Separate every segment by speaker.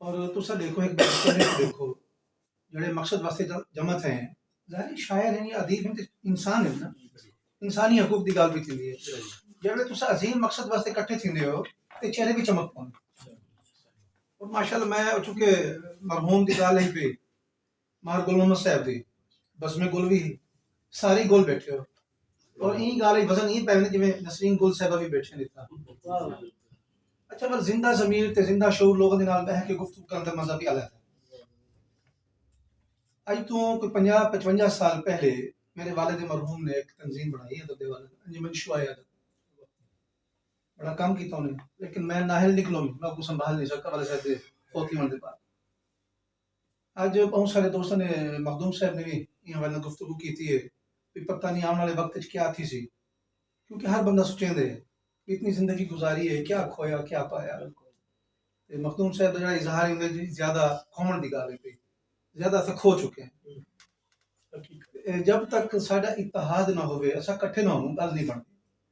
Speaker 1: اور تساں ڈیکھو ہک بادشاہ نوں ڈیکھو جڑے مقصد واسطے جمع تھے ہیں ظاہری شاعر ہیں یا ادیب ہیں تے انسان ہیں نا انسانی حقوق دی گل بھی تھیندی ہے جڑے تساں عظیم مقصد واسطے اکٹھے تھیندے ہو تے چہرے بھی چمک پوندے اور ماشاءاللہ میں چونکہ مرحوم دی گل ہی پئی مار گل محمد صاحب دی بزم گل وی ہی ساری گل بیٹھے ہو اور ایں گالھ اچ وزن ایں پے ویندے جویں نسرین گل صاحبہ وی بیٹھے ہن اتھاں اچھا پر زندہ ضمیر تے زندہ شعور لوکاں دے نال بیٹھ کے گفتگو کرݨ دا مزہ وی الگ ہے اج توں کوئی پنجاہ پچونجا سال پہلے میرے والد مرحوم نے ایک تنظیم بنائی ادب دے حوالے نال انجمن شعاع ادب بڑا کم کیتا انہیں لیکن میں نااہل نکلوں میں کو سنبھال نہیں سکا والد صاحب دے فوت تھیوݨ دے بعد اج بہوں سارے دوستاں نے مخدوم صاحب نے وی ایں حوالے نال گفتگو کیتی ہے بھئی پتہ نی آونڑ آلے وقت اچ کیا تھیسی کیونکہ ہر بندہ سوچیندے بھئی اتنی زندگی گزاری ہے کیا کھویا کیا پایا تے مخدوم صاحب دا جیہڑا اظہار ہے اوندے اچ زیادہ کھوونڑ دی گالھ ہئی زیادہ اساں کھو چکے ہیں جب تک ساڈا اتحاد نہ ہووے اساں کٹھے نہ ہووں گل نی بنڑدی۔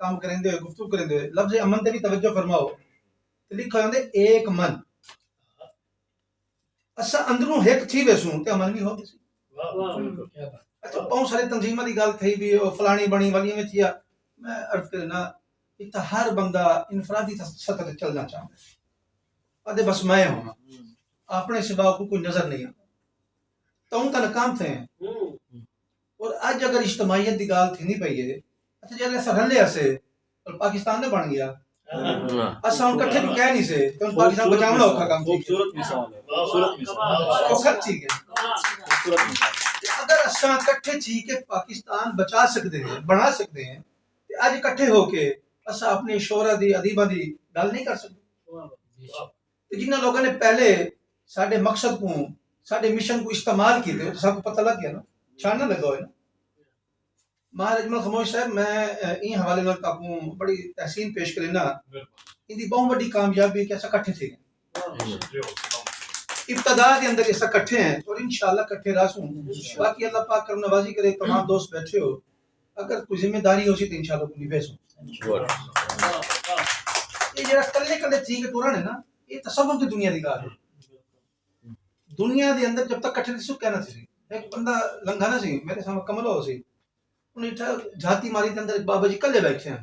Speaker 1: کم کریندے ہوئے گفتگو کریندے ہوئے لفظ امن تے وی توجہ فرماؤ تے لکھا ہوندے ایک من اسا اندروں ہک تھی ویسوں تے امن وی ہو ویسی اچھا بہت سارے تنظیماں دی گل تھئی بھی او فلانی بنی ولی میں تھیا میں عرض کرنا اتھا ہر بندہ انفرادی سطح تے چلنا چاہندا ہے ادے بس میں ہوں اپنے سوا کو کوئی نظر نہیں آتا توں تا ناکام تھے ہیں اور اج اگر اجتماعیت دی گالھ تھیندی پئی ہے اتھے جیلے اساں رلے ہسے تاں پاکستان نہ بن گیا اساں ہن کٹھے وی کہہ نی سے تاں پاکستان بچاونڑا اوکھا کم تھی گیا تے اگر اساں کٹھے تھی کے پاکستان بچا سکدے ہیں بنڑا سکدے ہیں تے اج کٹھے ہو کے اساں اپنی شعرا دی ادیباں دی گالھ نی کر سکدے تے جنہاں لوکاں نے پہلے ساڈے مقصد کوں ساڈے مشن کوں استعمال کیتے او تے ساکوں پتہ لگ گیا نا چھان نہ لگا ہوئے نا ماہر اجمل خموش صاحب میں ایں حوالے نال تاکوں بڑی تحسین پیش کرینا ایندی بہوں وڈی کامیابی کہ اسا کٹھے تھے گئے ابتدا دے اندر اسا کٹھے ہیں اور انشاءاللہ کٹھے رہسوں باقی اللہ پاک کرم نوازی کرے تمام دوست بیٹھے ہو اگر کوئی ذمہ داری ہوسی تے انشاءاللہ توں نبھیسوں۔ اے جیڑھا کلے کلے تھی کے ٹرݨ ہے نا اے تصوف دی دنیا دی ڳالھ ہے۔ دنیا دے اندر جب تک کٹھے نہ تھیسوں کیا نہ تھیسی۔ ہک بندہ لنگھا نہ سی میݙے سامݨے کملا ہوسی اوں ݙٹھا جھاتی ماری تے اندر بابا جی کلے ٻیٹھے ہن۔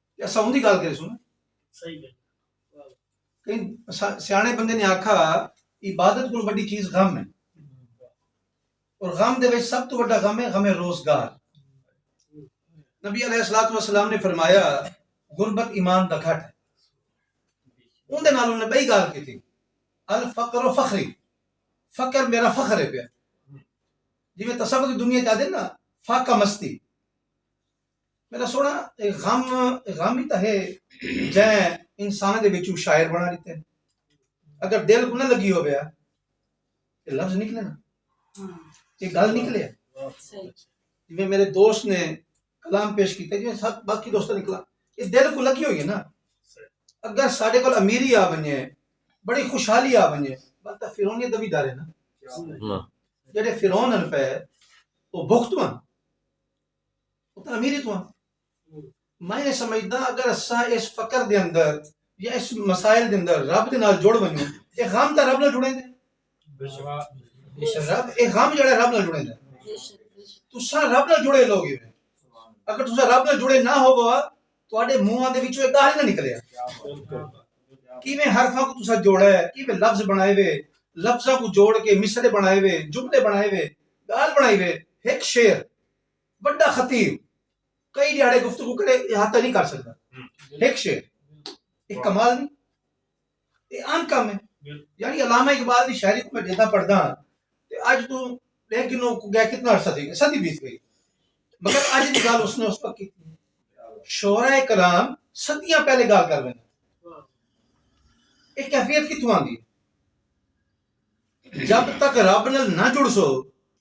Speaker 1: تے اساں اوندی گالھ کریسوں نا۔ صحیح گالھ ہے۔ سیاݨے بندے نے آکھا عبادت کوں وڈی چیز غم ہے۔ اور غم دے وچ سب توں وڈا غم ہے غم روزگار۔ نبی علیہ الصلوۃ والسلام نے فرمایا غربت ایمان دا گھٹ ہے۔ اوندے نال انہاں نے بئی گالھ کیتی الفقر فخری فقر میرا فخر ہے پیا۔ جیویں تصوف دی دنیا چاہدے نا فاقہ مستی۔ میݙا سوہݨا اے غم غم ای تاں ہے جئیں انسان دے وچوں شاعر بݨا ݙتے اگر دل کوں نہ لڳی ہووے ہا تے لفظ نکلے نا تے گل نکلے جیویں میݙے دوست نے کلام پیش کیتے جیویں سب باقی دوستاں نے کلام اے دل کوں لڳی ہوئی ہے نا اگر ساڈے کول امیری آ ونجے بڑی خوشحالی آ ونجے بس تاں فرعونیت دا وی ڈر ہے نا جیڑھے فرعون ہن پئے او بھکتوں ہن تعمیری تھواں میں یہ سمجھدا اگر اساں اس فقر دے اندر یا اس مسائل دے اندر رب دے نال جڑ ونجو اے غم تے رب نال جڑے دے رب اے غم جڑا رب نال جڑے دے تساں رب نال جڑے لوگ ہی اگر تساں رب نال جڑے نہ ہو بوا تواڈے منہاں دے وچوں اے گالھ نہ نکلے کیویں حرفاں کو تساں جوڑا ہے کیویں لفظ بنائے وے لفظاں کو جوڑ کے مصرے بنائے وے جملے بنائے وے گالھ بنائے وے ایک شعر وݙا خطیب کئی ݙیہاڑے گفتگو کرے احاطہ نی کر سڳدا ہک شعر اے کمال نی اے آن کم اے یعنی علامہ اقبال دی شاعری کوں میں جداں پڑھدا ہاں تے اڄ توں ݙیکھ گھنو کوں ڳئے کتنا عرصہ تھی ڳئے صدی بیت ڳئی مگر اڄ دی ڳالھ اس نے اس وقت کیتی شعراء کرام صدیاں پہلے ڳالھ کر ویندے اے کیفیت کتھوں آندی جب تک رب نال نہ جڑسو